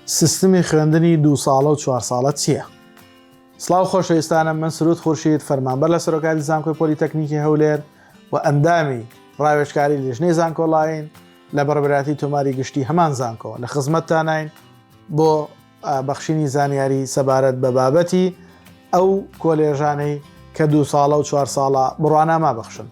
سیستمی خوێندنی دوو ساڵە و چوار ساڵە چییە؟ سڵاو خۆشەویستانم من سرود خورشید فەرمانبەر لە سەرۆکاتی زانکۆی پۆلی تەکنیکی هەولێر و ئەندامی ڕاوێژکاری لیژنەی زانکۆلاین لە بەڕێوەبەرایەتی تۆماری گشتی هەمان زانکۆ لە خزمەتتاناین بۆ بەخشینی زانیاری سەبارەت بە بابەتی ئەو کۆلێژانەی کە دوو ساڵە و چوار ساڵە بڕوانامە بەخشن.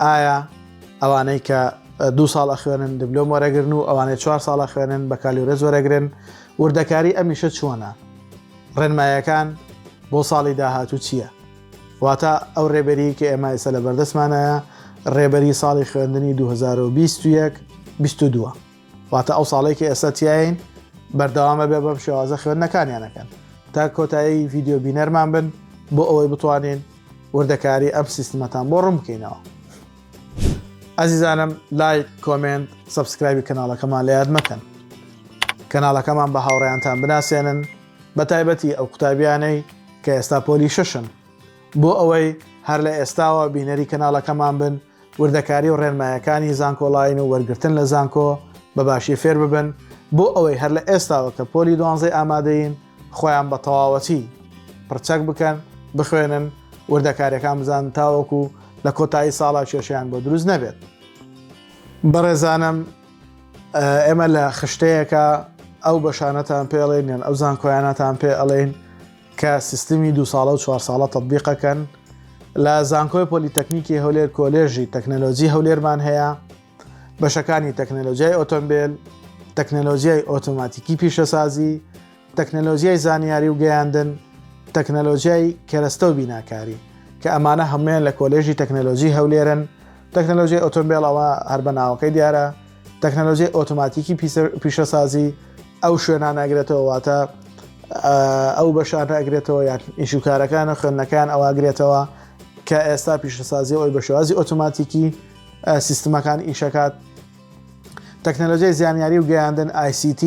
ئایا ئەوانەی کە دو ساڵ ئەخوێنن دبلۆم وەرەگرن و ئەوانەی چوار ساڵە خوێنن بە کالیورێز وەرەگرن وردەکاری ئەمیشە چۆنە ڕێنمایەکان بۆ ساڵی داهاتوو چییە؟ واتە ئەو ڕێبەری کە ئێمە ئێستا لە بەردەستمانایە ڕێبەری ساڵی خوێندنی 2021 22. واتە ئەو ساڵێک کە ئێستا تیاین بەردەوامە بێ بەم شێوازە خوێندنەکانیانەکەن تا کۆتایی ڤیددیو بینەرمان بن بۆ ئەوەی بتوانین وردەکاری ئەم سیستمەتان بۆ ڕوون بکەینەوە ئازیزانم لایک کۆمنت سبسکرایبی کەناڵەکەمان لە یاد مەکەن کەناڵەکەمان بە هاوڕێیانتان بناسێنن بە تایبەتی ئەو قوتابیانەی کە ئێستا پۆلی شەشن بۆ ئەوەی هەر لە ئێستاوە بینەری کەناڵەکەمان بن وردەکاری و ڕێنمایەکانی زانکۆڵاین و وەرگرتن لە زانکۆ بە باشی فێر ببن بۆ ئەوەی هەر لە ئێستاوە کە پۆلی دوانزەی ئامادەین خۆیان بە تەواوەتی پرچەک بکەن بخوێنن وردەکاریەکان بزان تاوەکو لە کۆتایی ساڵا کێشیان بۆ دروست نەبێت بەڕێزانم ئێمە لە خشتەیەەکە ئەو بەشانەتان پێڵێن یان ئەو زانکۆیانەتان پێ ئەڵێن کە سیستمی دوو ساڵە و چوار ساڵە تەتبیق ئەکەن لە زانکۆی پۆلیتەکنیکی هەولێر کۆلێژی تەکنەلۆجی هەولێرمان هەیە بەشەکانی تەکنەلۆجیای ئۆتۆمبیل تەکنەلۆجیای ئۆتۆماتیکی پیشەسازی تەکنەلۆجیای زانیاری و گەیاندن تەکنەلۆجیای کەرەستە و بیناکاری کە ئەمانە هەمویان لە کۆلێژی تەکنەلۆجی هەولێرن تەکنەلۆجیای ئۆتۆمبیلەوە هەر بە ناوەکەی دیارە تەکنەلۆژیای ئۆتۆماتیکی پیشەسازی ئەو شوێنان ئەگرێتەوە واتە ئەو بەشانە ئەگرێتەوە یان ئیشوکارەکان و خوێندنەکان ئەواگرێتەوە کە ئێستا پیشەسازی ئەوی بە شێوازی ئۆتۆماتیکی سیستمەکان ئیشەکات تەکنەلۆژیای زانیاری و گەیاندن ICT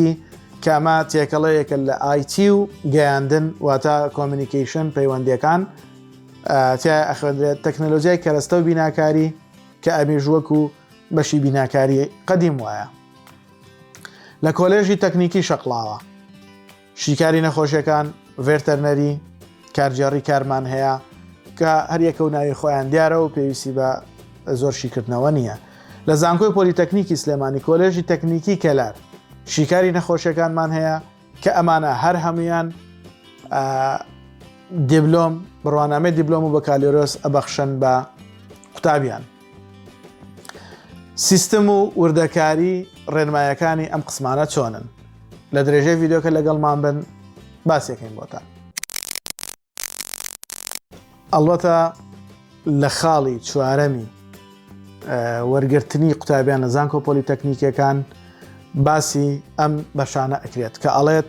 کەمە تێکەڵەیەکە لە IT و گەیاندن واتە کۆمیکیشن پەیوەندەکان تیا ئەخوێندرێت تەکنەلۆژیای کەرەستە و بیناکاری کە ئەمیش وەکو بەشی بیناکاری قەدیم وایە لە کۆلێژی تەکنیکی شەقڵاوە شیکاری نەخۆشیەکان ڤێرتەرنەری کارجێڕی کارمان هەیە کە هەریەکە و ناوی خۆیان دیارە و پێویستی بە زۆر شیکردنەوە نییە لە زانکۆی پۆلیتەکنیکی سلێمانی کۆلێژی تەکنیکی کەلار شیکاری نەخۆشیەکانمان هەیە کە ئەمانە هەر هەمویان دیبلۆم بڕوانامەی دیبلۆم و بەکالۆرۆس ئەبەخشن بە قوتابیان سیستم و وردەکاری ڕێنمایەکانی ئەم قسمانە چۆنن لە درێژەی ڤیددیوکە لەگەڵمان بن باسیەکەین بۆتان ئەڵبەتە لە خاڵی چوارەمی وەرگرتنی قوتابیان لە زانکۆ پۆلیتەکنیکەکان باسی ئەم بەشانە ئەکرێت کە ئەڵێت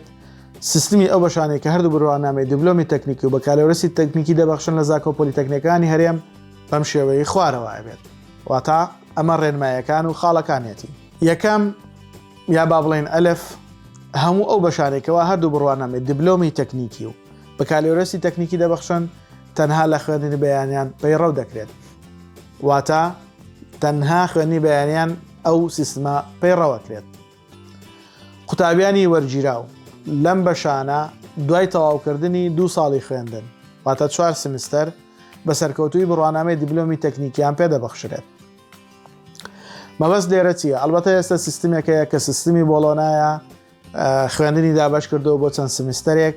سیستمی ئەو بەشانێک کە هەردوو بڕوانامەی دیبلۆمی تەکنیکی و بەکالۆرەسی تەکنیکی دەبەخشن لە زاکۆ پۆلیتەکنەکانی هەرێم بەم شێوەیە خوارەوە بێت واتا ئەمە ڕێنمایەکان و خاڵەکانیەتی یەکەم یا با بڵێن ئەلف هەموو ئەو بەشارێکەوە هەردوو بڕوانامێت دیبلۆمی تەکنیکی و بەکالۆرێسی تەکنیکی دەبەخشن تەنها لە خوێندنی بەیانیان پەیڕەو دەکرێت واتە تەنها خوێنی بەیانیان ئەو سیستمە پەیڕەوەکرێت قوتابیانی وەرگیراو لەم بەشانە دوای تەواوکردنی دوو ساڵی خوێندن واتە چوار سمستەر بە سەرکەوتوی بڕوانامەی دیبلۆمی تەکنیکیان پێدەبخشرێت مەبەست لێرە چیە ئەلبەتە ئێستا سیستمێکەیە کە سیستمی بۆڵۆنایە خوێندنی دابش کردو بۆ چەند سمیستەرێک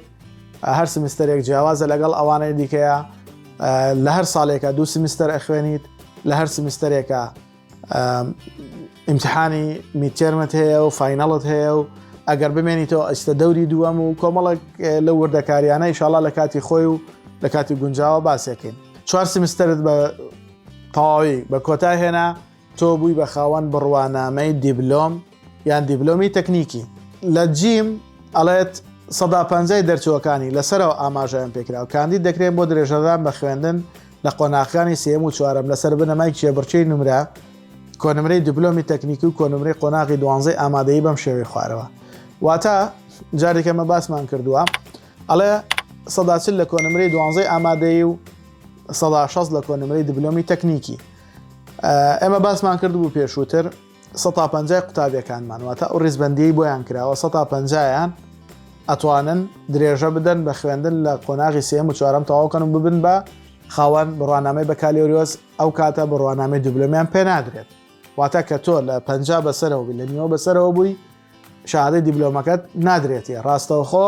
هەر سمیستەرێک جیاوازە لەگەڵ ئەوانەی دیکەیە لە هەر ساڵێکە دوو سمیستەر ئەخوێنیت لە هەر سمیستەرێکە ئیمتحانی میتێرمت هەیە و فینەڵت هەیە و ئەگەر بمێنیتەوە ئەستە دەوری دووەم و کۆمەڵک لە وردەکاریانە ئیشاڵا لە کاتی خۆی و لە کاتی گونجاوە باسێکین چوار سمستەرت بە تەواوی بە کۆتا هێنا تۆ بووی بە خاوەن بڕوانامەی دیبلۆم یان دیبلۆمی تەکنیکی لە جیم ئەڵێت سەدا پەنجای دەرچووەکانی لەسەرەوە ئاماژەیان پێکراو کاندید دەکرێن بۆ درێژەدان بە خوێندن لە قۆناغەکانی سێم و چوارەم لەسەر بنەمای کێبڕکێی نمرە کۆنمرەی دیبلۆمی تەکنیکی و کۆنمرەی قۆناغی دوانزەی ئامادەی بەم شێوەی خوارەوە واتە جارێکەمە باسمان کردووە ئەڵێ سەداچل لە کۆنمرەی دوانزەی ئامادەی و سەدا شەست لە کۆنمرەی دیبلۆمی تەکنیکی ئێمە باسمان کرد بوو پێشووتر 150 قوتابیەکانمان واتە ئەو ڕیزبندی بۆیان کراوە 150یان ئەتوانن درێژە بدەن بە خوێندن لە قۆناغی سێم و چوارم تەواوکەن و ببن بە خاوەن بڕوانامەی بەکالیۆریۆس ئەو کاتە بڕوانامەی دوبلۆمیان پێ نادرێت واتە کە تۆ لە پ بەسەرەوە لە نیوە بەسەرەوە بووی شادەی دیبلۆمەکەت نادرێتە ڕاستەوخۆ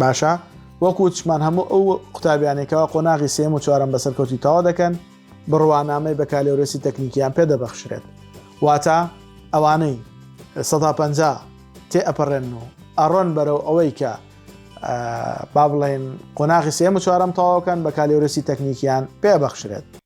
باشە وەک وتشمان هەموو ئەو قوتابیانێکەوە قۆناغی سێم و چوارم بە سەرکەوتی تەوا دەکەن بڕوانامەی بەکالۆرێسی تەکنیکیان پێ دەبەخشرێت واتە ئەوانەی سەدا پ تێ ئەپەڕێن و ئەڕۆن بەرەو ئەوەی کە با بڵێن قۆناغی سێم و چوارم تەواوکەن بەکالۆرێسی تەکنیکیان پێ بەخشرێت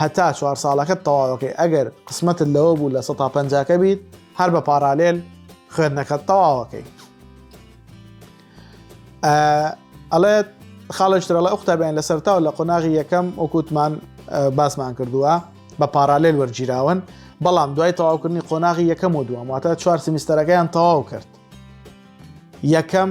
هەتا چوار ساڵەکەت تەواوەکەی ئەگەر قسمەتت لەوە بوو لە سە تا پەنجاکە بیت هەر بە پارالێل خوێندنەکەت تەواوەکەی ئەڵێت خاڵشترەڵە ئوختابیان لە سەرتاو لە قۆناغی یەکەم وەکووتمان باسمان کردووە بە پارالێل وەرگیراون بەڵام دوای تەواوکردنی قۆناغی یەکەم و دووەم واتە چوار سمیستەرەکەیان تەواو کرد یەکەم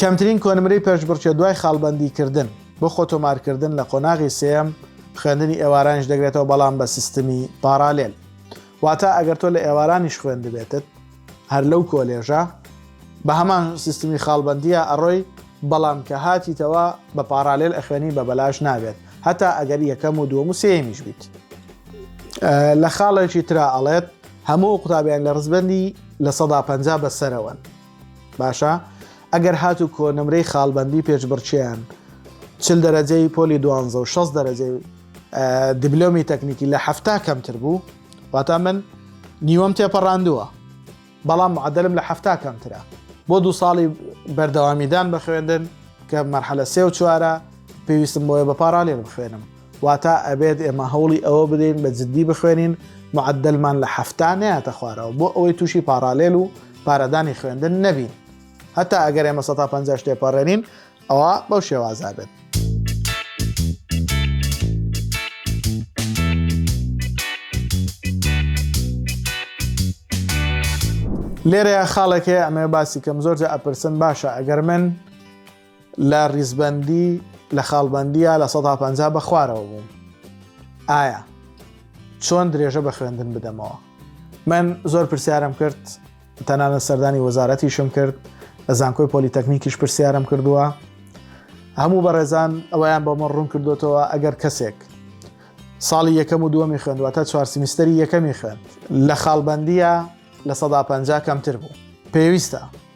کەمترین کۆنمرەی پێشبڕکێ دوای خاڵبەندیکردن. بۆ خۆتۆمارکردن لە قۆناغی سێیەم خوێندنی ئێوارانیش دەگرێتەوە بەڵام بە سیستمی پاڕالێل واتا ئەگەر تۆ لە ئێوارانیش خوێندبێتت هەر لەو کۆلێژە بە هەمان سیستمی خاڵبەندیە ئەڕۆی بەڵام کە هاتیتەوە بە پاڕالێل ئەخوێنی بە بەلاش نابێت هەتا ئەگەر یەکەم و دووەم و سێیەمیش بیت لە خاڵێکی ترا ئەڵێت هەموو ئەو قوتابیان لە ڕزبەندی لە سەدا پەنجا بە سەرەوەن باشە ئەگەر هات و کۆ نمرەی خاڵبندی پێشبڕچیان چل دەرەجەی پۆلی دوانزە و شەست دەرەجەی دیبلۆمی تەکنیکی لە هەفتا کەمتر بوو واتا من نیوەم تێپەڕاندووە بەڵام معدلم لە هەفتا کەمترە بۆ دوو ساڵی بەردەوامیدان بە خوێندن کە مەرحەلە سێ و چوارە پێویستم بۆیە بە پارالێن بخوێنم واتا ئەبێت ئێمە هەوڵی ئەوە بدەین بە جددی بخوێنین معدلمان لە حەفتا نەیاتە خوارەوە بۆ ئەوەی تووشی پاڕالێل و پارەدانی خوێندن نەبین هەتا ئەگەر ئێمە 150 شتێ پەڕێنین ئەوە بەو شێوازا بێت. لێرەیە خاڵێکێ ئەمێ باسی کەم زۆرجە ئەپرسن باشە ئەگەر من لە ڕیزبەندی لە خاڵبندیە لە 150 بە خوارەوە بووم ئایا چۆن درێژە بە خوێندن بدەمەوە من زۆر پرسیارم کرد تەنانە سەردانی وەزارەتیشم کرد لە زانکۆی پۆلیتەکنیکیش پرسیارم کردووە هەموو بەڕێزان ئەویان بۆمە ڕوون کردوتەوە ئەگەر کەسێک ساڵی یەکەم و دووەمی خوێندوە تا چوار سیمیستەری یەکەمی خوێند لە خاڵبندیە لە 150 کەمتر بوو پێویستە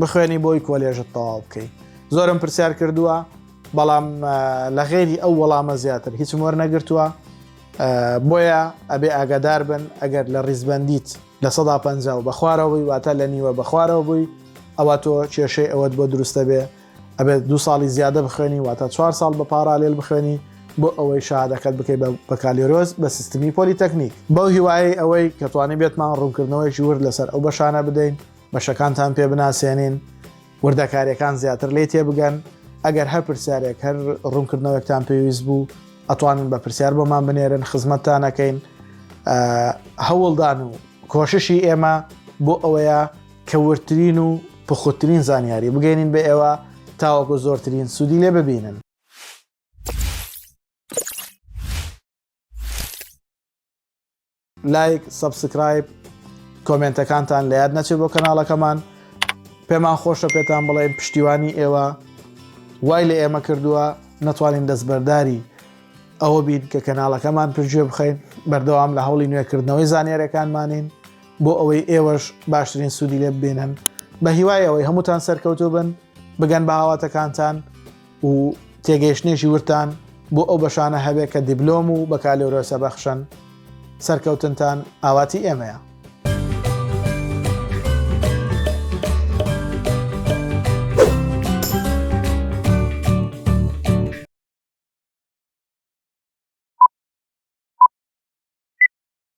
بخوێنی بۆی کۆلێژت تەواو بکەی زۆرم پرسیار کردووە بەڵام لە غێری ئەو وەڵامە زیاتر هیچ وەر نەگرتووە بۆیە ئەبێ ئاگادار بن ئەگەر لە ڕیزبندیت لە سەدا پ و بەخوارەوەی واتە لە نیوە بەخوارەوە بووی ئەوە تۆ کێشەی ئەوەت بۆ دروستە بێ ئەبێت دو ساڵی زیادە بخوێنی واتە چوار ساڵ بە پارالێل بخوێنی بۆ ئەوەی شادەکەت بکەی بە کالیۆرۆز بە سیستمی پۆلیتەکنیک بەو هیوای ئەوەی کەتوانانی بێتمان ڕوونکردنەوەیکی ورد لەسەر ئەو بەشانە بدەین بەشەکانتان پێ بناسێنین، وردەکاریەکان زیاتر لێی تێبگەن، ئەگەر هەر پرسیارێک هەر ڕوونکردنەوەکتان پێویست بوو ئەتوانن بە پرسیار بۆمان بنێرن خزمەتتانەکەین هەوڵدان و کۆششی ئێمە بۆ ئەوەیە کە وردترین و پخوترین زانیاری بگەێنین بە ئێوە تاوەکو زۆرترین سوودی لێ ببینن. لایک سەبسکرایب کۆمێنتەکانتان لە یاد نەچێت بۆ کەناڵەکەمان پێمان خۆشە پێتان بڵێن پشتیوانی ئێوە وای لە ئێمە کردووە نەتوانین دەستبەرداری ئەوە بین کە کەناڵەکەمان پرژێ بخەین بەردەوام لە هەوڵی نوێکردنەوەی زانیارەکانمانین بۆ ئەوەی ئێوەش باشترین سوودی لێ ببینن بە هیوای ئەوەی هەمووتان سەرکەوتو بن بگەن بە هاواتەکانتان و تێگەیشتنێکی وردتان بۆ ئەو بەشانە هەبێت کە دیبلۆم و بەکالۆرۆسە بەخشن سەرکەوتنتان ئاواتی ئێمەیە.